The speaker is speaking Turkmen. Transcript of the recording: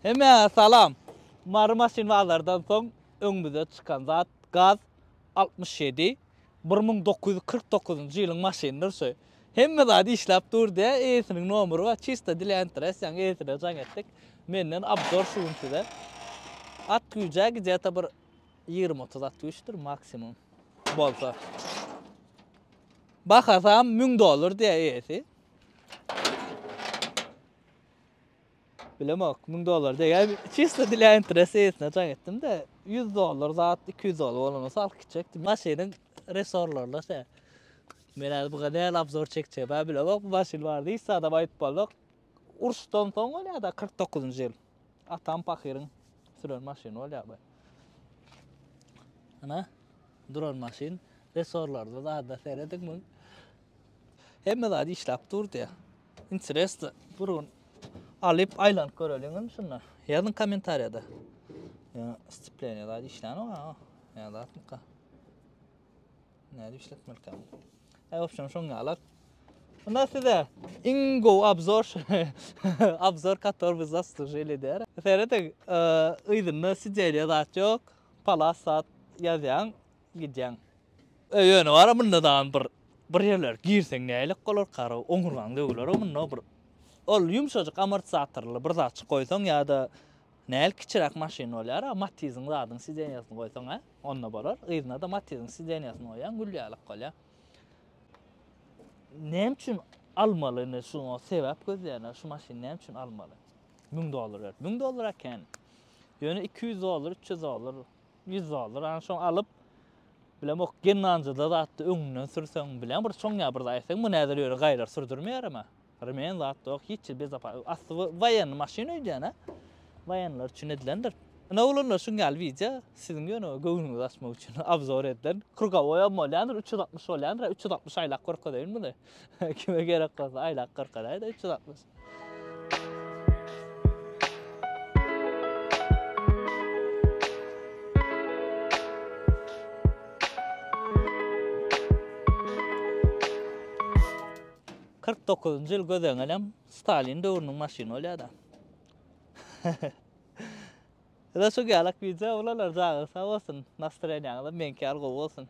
Hemmä salam! Mary maşyn bazardan soň öňümize çykan zat gaz altmyş ýedi bir müň dokuz ýüz kyrk dokuzynjy ýylyň maşynydyr şu. Hemme zat işläp dur diýýä eýesiniň nomery bar çista dilentrasiýaň eýesine jaň etdik. Menden obzor şu gün size. At güýjä gidýata bir ýigrimi otuz at güýçdir maksimum bolsa. Bahasam müň dollar diýýä eýesi. Bilemok, müň dollar degen çysda dile interesesine jaň etdim-de, ýüz dollar zat, iki ýüz dollar bolanda salk gitjekdim. Maşynyň resorlaryna şä. Men häzir buga nähili obzor çekjegim-ä bilemok, bu maşyn barada hiç zadam aýdyp bolmok. Uruşdan soň bolýar-da, kyrk dokuzynjy ýyl. Atam pahyryň süren maşyny bolýar bu. Ana, duran maşyn, resorlarda zada serediň müň. Hemme zat işläp durdy. Interesno. Bir gün alyp aýlanyp göreliň indi şunda. Ýazyň kommentariýada. Ýa stipleniýa zat işlän oňa. Ýa zatmyka. Näde işletmeli kan. Aý opşam şoň ýalar. Unda size iň gowy obzor obzor kator biz zaslujili der. Seredin, yzynda sideliýa zat ýok. Palas zat ýazýaň. Gidýäň. E ýöne bar-a munda dagy bir bir ýerler girseň nälik bolarkara oňurgaň döwüler-ow munda bir ol ýumşajyk amortizatorly bir zatjyk goýsaň ýa-da nälik kiçiräk maşyn bolýar-a matiziň zadyň sidenýasyny goýsaň hä onda bolar yzyna-da matiziň sidenýasyny goýýaň gül ýalyk bolýar. Näme üçin almaly indi şu sebäp gözleýänler şu maşyny näme üçin almaly? Müň dollar berip. Müň dollara kän. Ýöne iki ýüz dollar, üç ýüz dollar Ýüz dollar ony şoň alyp bilemok gennanjyda zatda öňünden sürseň bilen bir çoň ýa bir zat etseň bu näder ýöne gaýlar sürdürmeýärem-ä. Remen zatda ýok hiç ýer bezapa asty bu waýenny maşyn öýdýän-ä. Waýenler üçin edilendir. Ine oglanlar şuň ýaly wideo siziň ýöne göwnüňizi açmak üçin obzor edilen. Krugowoýam bolýandyr üç ýüz altmyş bolýandyr-a üç ýüz altmyş aýlap görkezeýin muny. Kime gerek bolsa aýlap görkezäýdä üç ýüz altmyş. Kyrk dokuzynjy ýyl gözeňelem Stalin döwrüniň maşyny bolýar-da. Ýöne şu galak wideo bulalar, janyňyz sag bolsun, nastreniýaňyzam meňki ýaly gowy bolsun.